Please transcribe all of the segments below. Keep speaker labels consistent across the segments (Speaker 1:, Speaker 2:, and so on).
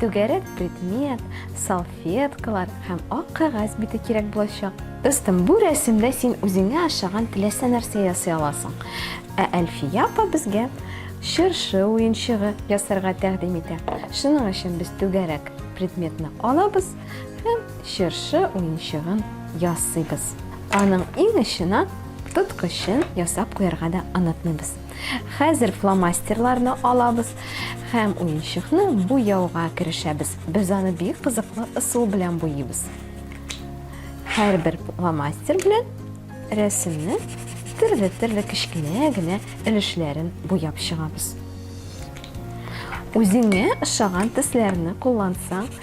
Speaker 1: Түгәрәк предмет, салфеткалар һәм ак кәгазь бите кирәк булачак. Дустым, бу рәсемдә син үзеңә ашаган теләсә нәрсә ясый аласың. Ә Әлфия апа безгә чыршы уенчыгы ясарга тәкъдим итә. Шуның өчен без түгәрәк предметны алабыз һәм чыршы уенчыгын ясыйбыз. Аның иң очына тоткычын ясап куярга да онытмыйбыз. Хәзер фломастерларны алабыз һәм уенчыкны буяуга керешәбез. Без аны бик кызыклы ысул белән буйыйбыз. Һәрбер фломастер белән рәсемне төрле-төрле кечкенә генә өлешләрен буяп чыгабыз. Үзеңә ошаган төсләрне куллансаң,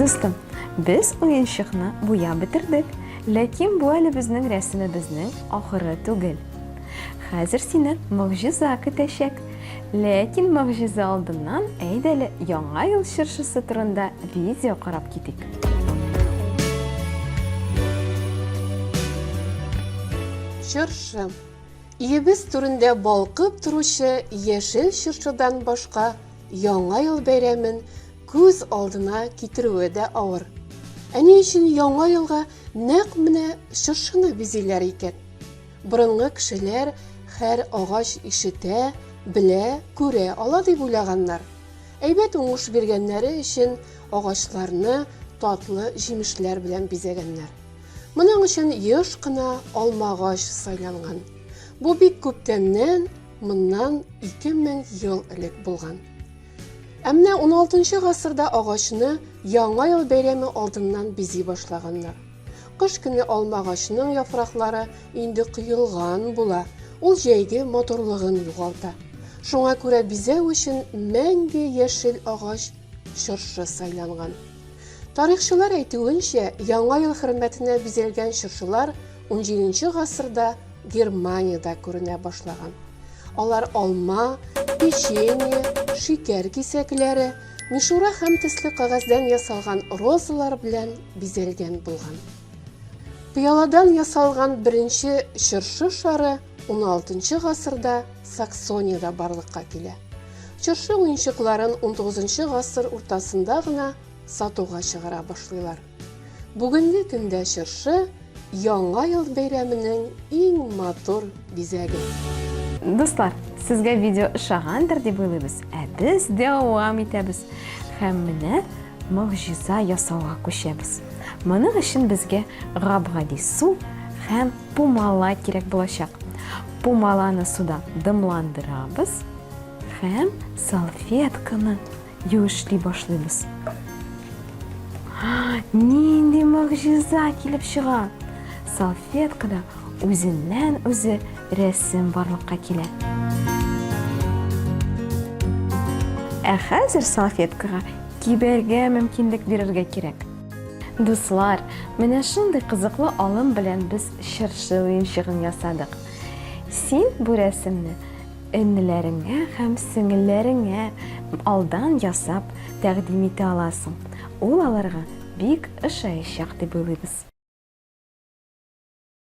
Speaker 1: Дустым, без уенчыкны буяп бетердек, ләкин бу әле безнең рәсемебезнең ахыры түгел. Хәзер сине могҗиза көтәчәк. Ләкин могҗиза алдыннан әйдә әле Яңа ел чыршысы турында видео карап китик.
Speaker 2: Чыршы. Өебез түрендә балкып торучы яшел чыршыдан башка Яңа ел бәйрәмен күз алдына китерүе дә авыр. Ә ни өчен Яңа елга нәкъ менә чыршыны бизиләр икән? Борынгы кешеләр хәр агач ишетә, белә, күрә ала дип уйлаганнар. Әйбәт уңыш биргәннәре өчен агачларны татлы җимешләр белән бизәгәннәр. Моның өчен еш кына алма агач сайланган. Бу бик күптәннән, моннан 2000 ел элек булган. Ә менә 16 нчы гасырда агачны Яңа ел бәйрәме алдыннан бизи башлаганнар. Кыш көне алмагачның яфраклары инде коелган була, ул җәйге матурлыгын югалта. Шуңа күрә бизәү өчен мәңге яшел агач чыршы сайланган. Тарихчылар әйтүенчә, Яңа ел хөрмәтенә бизәлгән чыршылар унҗиденче гасырда Германиядә күренә башлаган. Алар алма, печенье, шикәр кисәкләре, Мишура һәм төсле кагәздән ясалган розалар белән бизәлгән булган. Пыяладан ясалган беренче чыршы шары 16 гасырда Саксониядә барлыкка килә. Чыршы уенчыкларын 19 гасыр уртасында гына сатуга чыгара башлыйлар. Бүгенге көндә чыршы, Яңа ел бәйрәменең иң матур бизәге. Дуслар,
Speaker 1: сезгә видео ошагандыр дип уйлыйбыз, ә без дәвам итәбез. Һәм менә могҗиза ясауга күчәбез. Моның өчен безгә гап-гади су һәм пумала кирәк булачак. Пумаланы суда дымландырабыз һәм салфетканы Юешли башлыйбыз. Нинди могҗиза килеп чыга! Салфеткада үзеннән үзе рәсем барлыкка килә. Ә хәзер салфеткага кибәргә мөмкинлек бирергә кирәк. Дуслар, менә шундый кызыклы алым белән без чыршы уенчыгын ясадык. Син бу рәсемне Эннеләреңә һәм сеңелләреңә алдан ясап тәкъдим итә аласың. Ул аларга бик ошаячак дип уйлыйбыз.